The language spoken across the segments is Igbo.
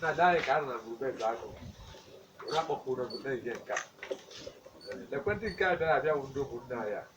na-adaghị ka a na mgbe eze akụ were akpọpụ ụlọ na-ehihe nke a ekwentị nke a bịara abịa bụ ndị ụmụnne anyị a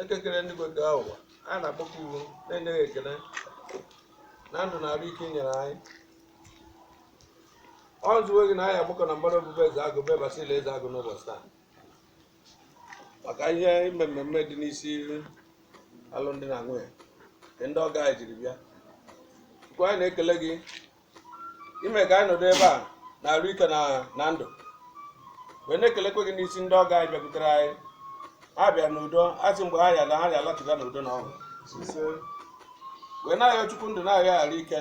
eke kere enigwe kee ụwa anyị na-akpọku gị wee na-enye gị ekele na ndụ na arụ ike i nyere anyị ọ zụwe gị na anyị agbakọ na mgbara obu be eze agụ be basili eze agụ n'ụbọchị taa maka ihe ime mmemme dị n'isi alụmdi na nwunye nke ndị ọgọ anyị jiri bịa chukwu anyị na-ekele gị ime ka anyị nọdụ ebe a n'arụ ike na na ndụ wee na-ekelekwe gị n'isi ndị ọgọ anyị bịakwutere anyị ha bịa n'udo a sị mgbe ha ya-ala ha ya-alachiga n'udo na ọṅụ wee na-ayọ chukwu ndụ na-ayọ arụ ike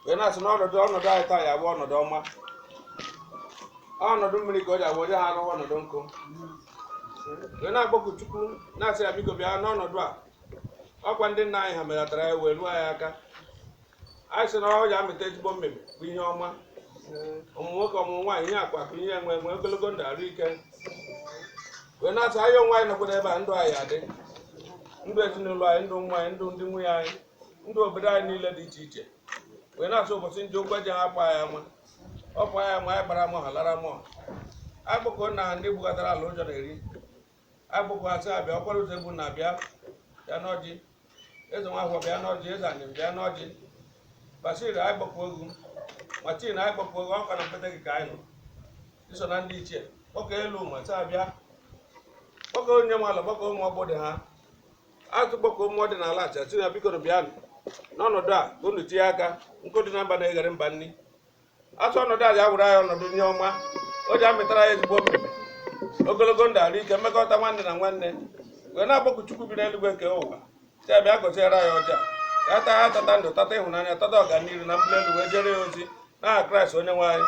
wee na-asị na ọnọdụ ọnọdụ anyị taa ya abụ ọnọdụ ọma ọnọdụ mmiri ka o ji abụ onye ha arụwa ọnọdụ ọkụ wee na-akpọku chukwu na-asị ya biko bịa n'ọnọdụ a ọkwa ndị nna anyị ha melatara ya wee ruo anyị aka anyị sị na ọ ya amịta ezigbo mmemme bụ ihe ọma ọmụmụ nwoke ọmụmụ nwaanyị ihe akụ akụ ihe enwe enwe ogologo ndụ arụ ike wee na-asị anyị onwe anyị nọkwa n'ebe a ndụ anyị adị ndụ ezinụlọ anyị ndụ ụmụ anyị ndụ ndị nwunye anyị ndụ obodo anyị niile dị iche iche wee na-asị ụbọchị njọ ụgwọ ji hapụ anyị ama ọ bụ anyị ama anyị gbara mọha lara mọha akpọkuo na ndị bugatara ala ụjọ na-eri akpọkuo ya sị ya bịa ọkwara ụzọ egbu na abịa bịa n'ọjị eze nwa ahụ bịa n'ọjị eze anyị bịa n'ọjị basil anyị akpọkuo gị matin anyị akpọkuo gị ọkwa na mpete gị ka anyị nọ i so na ndị ichie kpọkuo elu ma sị ya bịa kpọkuo onye nwe ala kpọkuo ụmụ ọgbọ dị ha atụ kpọkuo ụmụ dị n'ala acha sị na bikonụ bịanụ n'ọnọdụ a ka unu tinye aka nkụ dị na mba na-eghere mba nri a sị ọnọdụ a ga-awụrụ anyị ọnọdụ ihe ọma o ji amịtara anyị ezigbo mmemme ogologo ndụ arụ ike mmekọta nwanne na nwanne wee na-akpọku chukwu bi n'eluigwe kee ụwa sị ya bịa gọziere anyị ọjị a ka a taa ya tata ndụ tata ịhụnanya tata ọganihu na mbuli elu wee jere ya ozi n'aha kraịst onye nwe anyị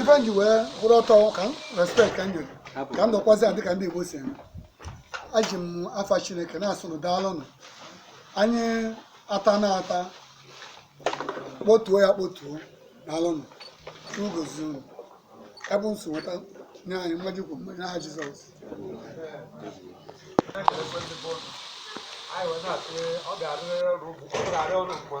ife m ji wee kwụrụ ọtọ ka m respekt ka m nyere ka m nọkwazi adị ka ndị Igbo si eme eji m afa Chineke na-asị unu daalụnụ anyị ata na ata kpotuo ya kpotuo daalụnụ ugozi unu ebe nso nweta nye anyị mmaji kwu mmanya n'aha Jizọs anyị wee na-asị ọ ga-adịrịrị ọrụ ugwu ọ ga-adị ọrụ mma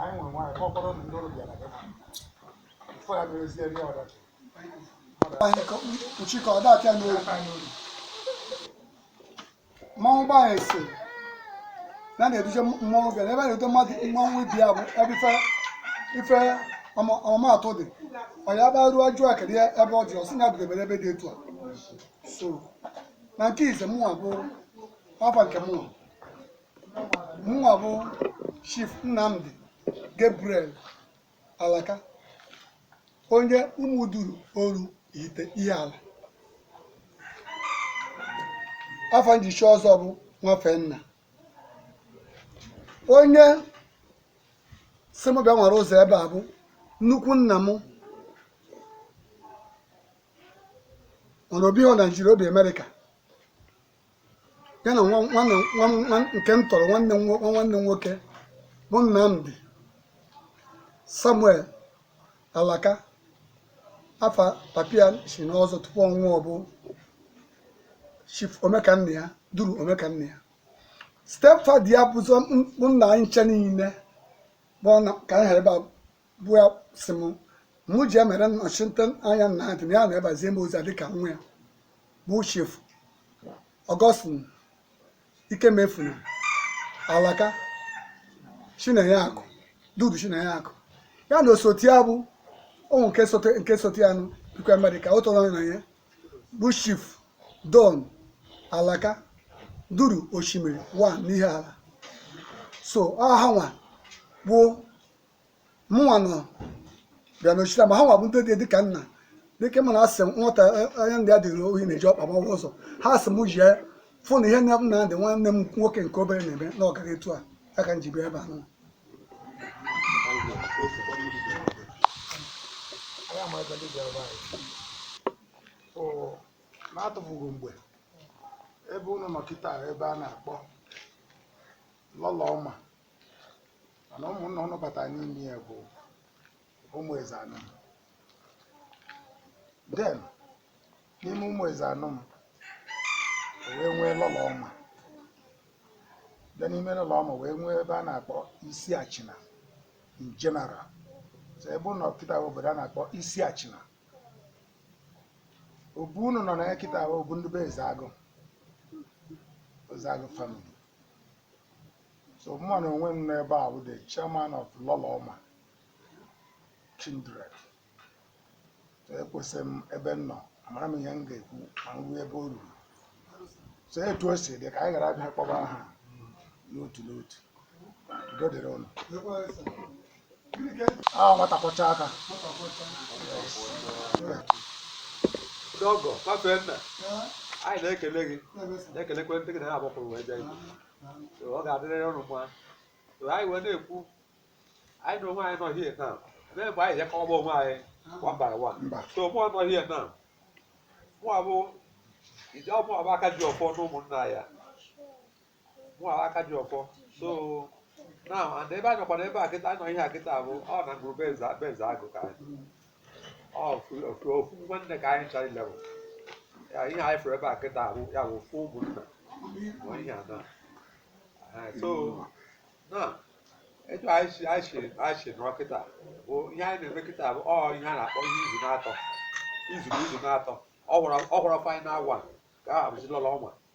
anyị nwere nwaanyị ka ọ kpọrọ ndị ọrụ bịara gị fọ ya merezie ndị ọdachi kpuchi ka ọ dapịa n'obi mmanwụ gbaa ese na na-eduje mmanwụ bịara ebe a na-eduje mmadụ mmanwụ ibi ya bụ ebe ife ife ọma- ọmụmatụ dị ọ ya bịa ruo ajụ akịrị ya ebe ọ dị ọ sị na ya bidebere ebe dị etu a so na nke ise mụnwa bụ afa nke mụnwa mụnwa bụ chief nnamdi gabriel alaka onye ụmụduru oru ihite ihiala afa m ji chi ọzọ bụ nwafenna onye sị m bịa nwere ụzọ ebe a bụ nnukwu nna m mana o bihọ naijiria o bi amerịka ya na nwa- nwanne nwa- nwa- nke m tọrọ nwanne m nwo- nwa nwanne m nwoke bụ Nnamdi Samuel Alaka afa papa ya chi n'ọzọ tupu ọ nwụọ bụ Chief Omekannaya Duru Omekannaya stepfather ya bụzọ bụ nna anyị ncha niile bụ ọ na- ka anyị ha ebe a bụ ya sị m mụ jee mere nnọchite anya nna ya na ya na-ebazie m ozi dịka nwa ya bụ chief augustine ikemefuna alaka chinenye akụ duru chinenye akụ ya na osote ya bụ ụmụ nke sote nke sote ya nụ bikwa amerịka ọ tọ na ya bụ chief don alaka duru osimiri one n'ihiala so ọ ha nwa bụ mụnwa nọ ebe a nọchita ma ha nwa bụ ndị dị dịka nna dịka mana a sị nwata onye nna ya duru ohi na-eji ọkpa agbawa ụzọ ha sị m jee fụ na ihe nnamdi nwanne m nwoke nke obere na-eme na ọ gara etu a ya ka m ji bịa ebe a nụ n'atụfughị mgbe ebe unu nọ kịta ebe a na-akpọ lọlọ ọma mana ụmụnna ụnụ bata n'ime ya bụ ụmụ eze anọ m then n'ime ụmụ eze anọ m o wee nwee lọlọ ọma bịa n'ime lọlọ ọma wee nwee ebe a na-akpọ isi achịna in general so ebe unu nọ kịta bụ obodo a na-akpọ isi achịna obu unu nọ na ya kịta bụ obu ndị be ezeagụ ezeagụ family so mụnwa na onwe m nọ ebe a bụ the chairman of Lọlọma Kindred so ekwesị m ebe m nọ amara m ihe m ga-ekwu ma m ruo ebe o ruru so etu o si dị ka anyị ghara abịa kpọba aha n'otu n'otu udo dịrị ụnụ ahụ nwata kwọcha aka Ndị ọgọ, papa nna, anyị na-ekele gị, na-ekelekwa ndị gị na ha agbapụrụ wee bịa ibu. So, ọ ga-adịrịrị ụnụ mma So, anyị wee na-ekwu anyị na onwe anyị nọ here now mee mgbe anyị je-akọwa onwe anyị one by one Mba. so mụa nọ here now mụa bụ ije ọ mụa bụ aka ji ọfọ na ụmụnna ya mụa bụ aka ji ọfọ so now and ebe anyị nọkwa n'ebe a kịta anyị nọ here kịta bụ ọ na ngwuru be Eze be Ezeagụ ka anyị ofu nwanne ka anyị chọrọ ilebụ ya ihe anyị fụrụ ebe a kịta ahụ ya bụ ofu ụmụnna ma ihe a na Ee, so now etu anyị si anyị si anyị si nọrọ kịta bụ ihe anyị na-eme kịta bụ ọ ihe a na-akpọ ihe izu n'atọ izu na izu n'atọ ọ gwara ọ gwara final one ka a bụzi lọlọ ọnwa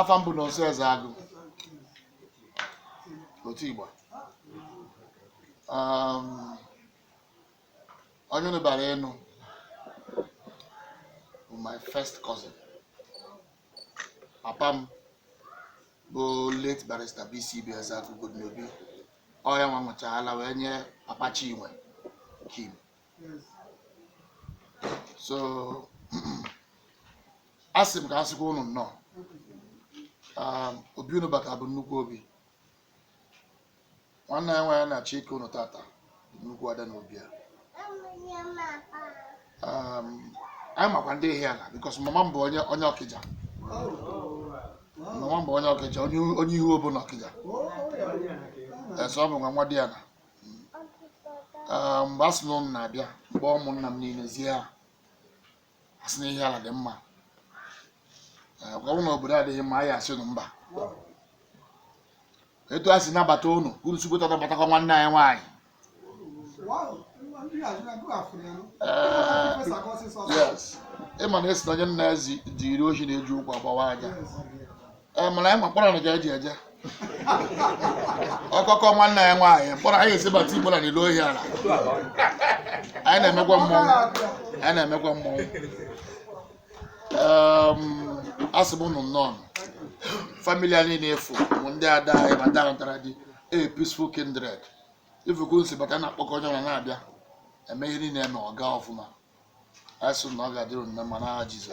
afa m bụ Nọnso Ezeagụ Otuigba Um, onye unu bịara ịnụ bụ my first cousin papa m bụ late barrister BCB Ezeagụ Godinobi ọ ya nwa nwụchaala wee nye papa Chinwe Kim so asị m ka a sịkwa unu nnọọ Um, obi unu bata bụ nnukwu obi nwanne anyị nwaanyị na-achọ ike unu tata bụ nnukwu ada n'obi a Um, anyị makwa ndị Ihiala because mama m bụ onye onye Ọkịja mama m bụ onye Ọkịja onye onye Uhuobo na Ọkịja so abụ m nwa nwadịana Ee, mgbe a sị na ụnụ na-abịa mgbe ụmụnna m niile zie ha a sị na Ihiala dị mma Ee, ọ bụrụ na obodo adịghị mma anyị asị unu mba etu a si nabata ụnụ ka unu sikwa etu a nabatakwa nwanne anyị nwaanyị yes ị ma na a sị na onye nna ya zi- ziri ohi na-eji ụkwụ agbawa aja Ee, mana anyị ma mkpọrọ na ka eji eje ọkọkọ nwanne anyị nwaanyị mkpọrọ anyị esibata Igbo na n'elu Ihiala anyị na-emekwa mmọnwụ anyị na-emekwa mmọnwụ Em, asị m unu nnọọ family anyị niile efu bụ ndị ada anyị ma ndị anụtara di a peaceful kindred ị fụ ka m si bata na-akpọkọ onye ọbụla na-abịa eme ihe niile e mee ọ gaa ọfụma asị na ọ ga-adịrị unu na mma n'aha Jizọs.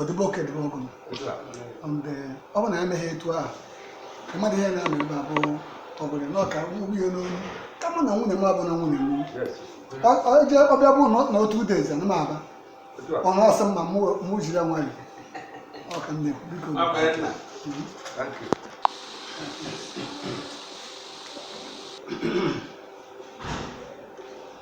ọdịbe oke dịbe ọgụ ndị ọ bụ na ya meghị etu ahụ mmadụ ihe na-ama ebe abụ ọbụla na ọka nwunye ya n'olu kama na nwunye m abụ na nwunye m oje ọbịa bụ na two days na m aba ọ na-asị m ma mụ jiri ya nwayọ ọka nne biko.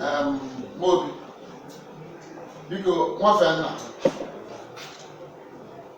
Em, Mobi, biko nwafee nna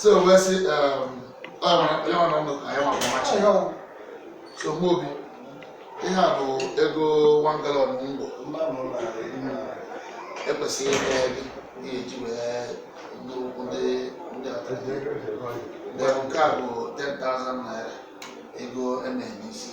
so wee sị um, onye ọ nọ ndụ ka ya ma mama chi so mụ obi ihe a bụ ego one gallon ngwọ ekwesịghị ịga ebe ị ga-eji wee ndị ụkwụ ndị ndị ọtọ Then nke a bụ 10,000 naira ego e na-enye isi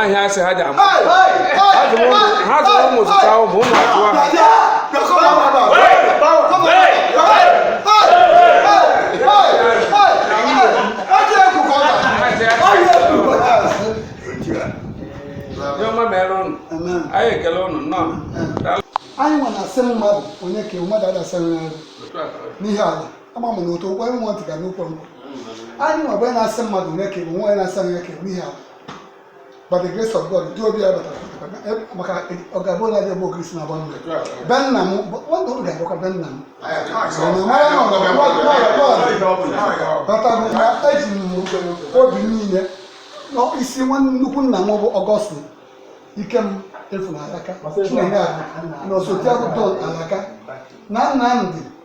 ahịa asị ha ji ama ha zụrụ ụmụ zụta ụmụ ụmụ atụ ha anyị ekele ụnụ nnọọ anyị nwa na-asị mmadụ onye ka mmadụ adasịrị n'arụ n'ihe ala ama m na otu okwe nwa ntị ga n'ukwe m anyị nwa bụ na-asị mmadụ onye ka bụ nwa onye na-asị onye ka bụ ihe ahụ by the grace of God dị obi ya batara maka ọ ga-abụ onye adịghị bụ ogirisi na-agba mmiri be nna m nwanne ụlọ ga-abụkwa be nna m batago na eji m obi niile na-asị nwanne nnukwu nna m bụ Ọgọstin Ikemefuna Alaka Chinenye ahụ na osote akụkọ alaka na nna m dị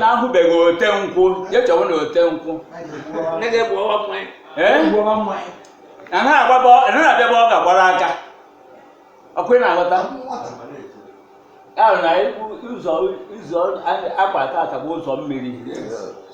na ahụbeghị ote nkwụ ya chọwa na ote nkwụ anaghị agbaba anaghị abịa ebe ọ ga-agbara aka ọkwa ị na-aghọta ahụ na ụzọ ụzọ akwa tata bụ ụzọ mmiri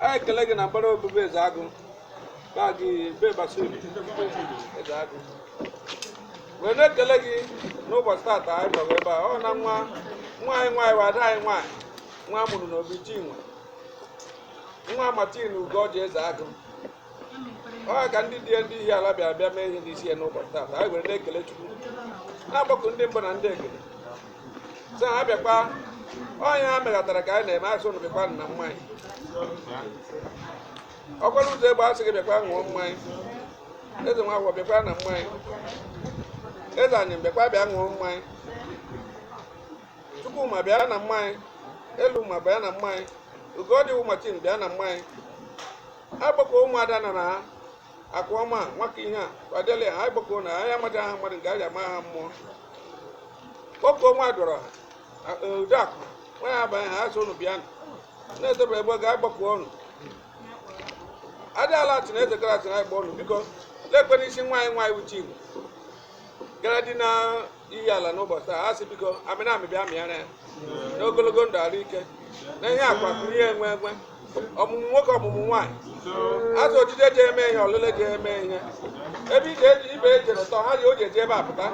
anyị ekele gị na mbara obube eze agụ baa gị be basiri eze agụ wee na-ekele gị n'ụbọchị tata anyị nọrọ ebe a ọ na nwa nwa anyị nwaanyị nwa ada anyị nwaanyị nwa a mụrụ n'obi chinwe nwa martin ugoji eze agụ ọ ka ndị di ya ndị Ihiala bịara bịa mee ihe n'isi ya n'ụbọchị taata anyị were na-ekele chukwu na-akpọku ndị mbụ na ndị egede sị ha bịakwa ọ ihe ha megatara ka anyị na-eme asị ụnụ bịakwa na mmanya ọkwara ụzọegbu asị gị bịakwa ṅụọ mmanya eze nwa agwọ bịakwa na mmanya eze anyị bịakwa bịa ṅụọ mmanya Chukwuma bịa na mmanya Eluma bịa na mmanya Ugoji Martin bịa na mmanya akpọkuo ụmụada nọ na ha akụọma nwaka ihe a kwadele ha agbakọ na anyị amaghị aha mmadụ nke anyị ama aha mmụọ kpọkọ nwa dọrọ udeakụ nwa ya abanye ha asị ụnụ bịa na-etebere ebe ga agbakọ ọnụ adị ala achị na eze gara achị na agba ọnụ biko lekwe n'isi nwa anyị nwaanyị uche igbo gara di na Ihiala n'ụbọchị taa a sị biko amịrị amị bịa mịara ya n'ogologo ndụ arụ ike na ihe akụ akụ ihe enwe enwe ọmụmụ nwoke ọmụmụ nwaanyị a sị ojije ji eme ihe ọlịla ji eme ihe ebe ije eji ibe ejere tọ ha ji o ji eji ebe apụta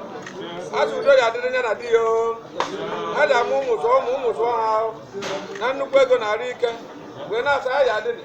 a sị udo ya adịrị ya na di ya o ha ji amụ ụmụ zụọ ụmụ ụmụ zụọ ha o. na nnukwu ego na arụ ike wee na-asị ya ya adịrị